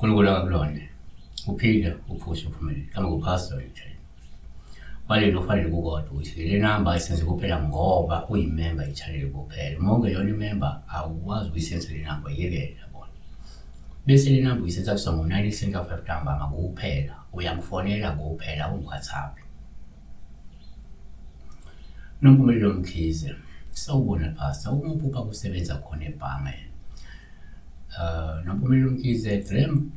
uNkulunkulu akakulonde uphinde uphuze uphumelele kama kuphasa nje kwalelo kufanele kukodwa ukuthi le namba ayisenze kuphela ngoba uyimemba yechannel kuphela uma ungeyona imemba awukwazi ukuyisenza le namba yekela bona bese le namba uyisenza kusongo 19 senka 5 ntambama kuphela Uyangifonela kuphela uWhatsApp. Nompumelelo Mkhize, sawubona Pastor, umuphi upha kusebenza khona ebhange? Uh, Nompumelelo Mkhize, dream,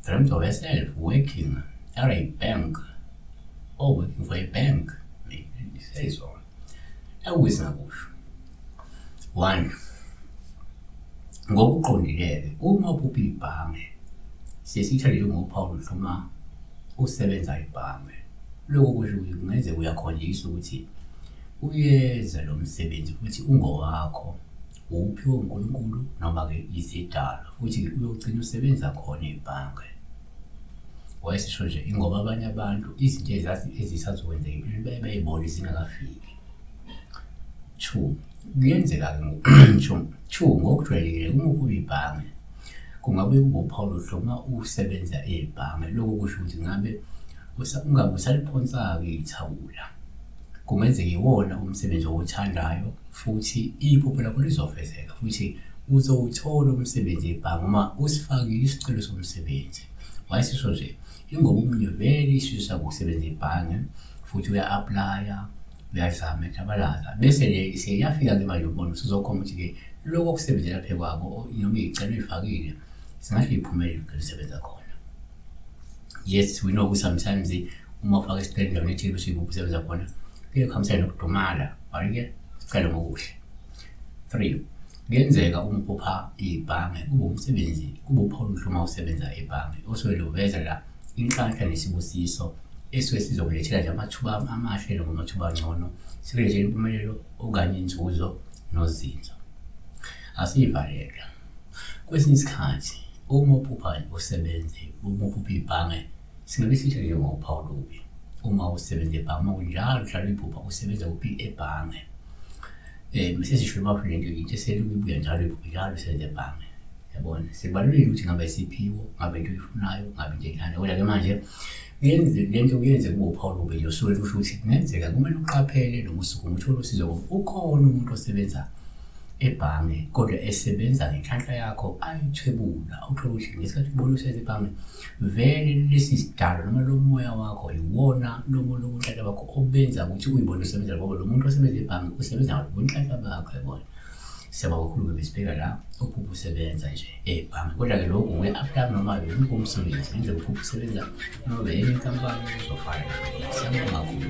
dreams of yourself, working at a bank. Oh, working for a bank. He says on. Awuze ngakusho. One. Ngokuqondileke uma uphupha ibhange sesithathe njengophawu noma usebenza ibhange. Lokho kusho ukuthi kungenzeka uyakhonjiswa ukuthi uyenza lo msebenzi futhi ungowakho uwuphiwe uNkulunkulu noma-ke izidalwa futhi uyogcina usebenza khona ebhange wayesisho nje ingoba abanye abantu izinto ezisazokwenzeka empilweni baye bayibone zingakafiki two kuyenzeka-ke ngokusho two ngokujwayelekile uma ukuba ibhange kungabe kungophawu lohlo uma usebenza ebhange lokho kusho ukuthi ngabe ungabe usaliphonsaka ithawula Kungenzeka iwona umsebenzi owuthandayo futhi iphupho lakho lizofezeka futhi uzowuthola umsebenzi ebhange uma usifakile isicelo somsebenzi. Wayesisho nje, ingoba omunye vele isifiso sakho ukusebenza ebhange futhi uya-aplaya, uyazama etabalaza. Bese-ke seyafika-ke manje ubona usuzokhomba ukuthi-ke lokho okusebenzela phekwako noma iy'celo uyifakile singahle iphumelele ngelisebenza khona. yes we know ukuthi sometimes uma ufaka isiqeli endaweni ethile bese uyibuphi usebenza khona kuye kuhambisane nokudumala wayike sicela ngokuhle three kuyenzeka uma uphupha ibhange kube umsebenzi kube upha oluhle uma usebenza ebhange osuke luveza la inhlanhla nesibusiso esuke sizokulethela nje amathuba amahle noma amathuba angcono sikulethela impumelelo okanye inzuzo nozinzo asiyivalelwa Kwesinye isikhathi uma uphupha usebenze, uma uphupha ibhange, singabe sisho nje ngophawu lubi. Uma usebenza ebhange, uma kunjalo njalo iphupha usebenza kuphi ebhange. Eh bese sisho uma ufike nje into eselokhu ibuya njalo iphupha njalo usebenza ebhange. Yabona, sibalulekile ukuthi ngabe isiphiwo, ngabe into oyifunayo, ngabe into enjani. Kodwa ke manje yenze le nto kuyenze kube uphawu lubi nje usuke kusho ukuthi kungenzeka kumele uqaphele noma usukume uthole usizo ngoba ukhona umuntu osebenza ebhange kodwa esebenza ngenhlanhla yakho ayithwebula uthole ukuthi ngesikhathi ubona usenza ebhange vele lesi sidalo noma lo moya wakho yiwona lo muntu obunhlanhla bakho obenza ukuthi uyibone usebenza ngoba lo muntu osebenza ebhange usebenza ngalo bunhlanhla bakho yabona siyabonga kakhulu ke besibheka la uphupha usebenza nje ebhange kodwa-ke lokhu nguye-aplaya noma bemuphi umsebenzi ngendlela uphupha usebenza noma beyenye inkampani uzofana siyabonga kakhulu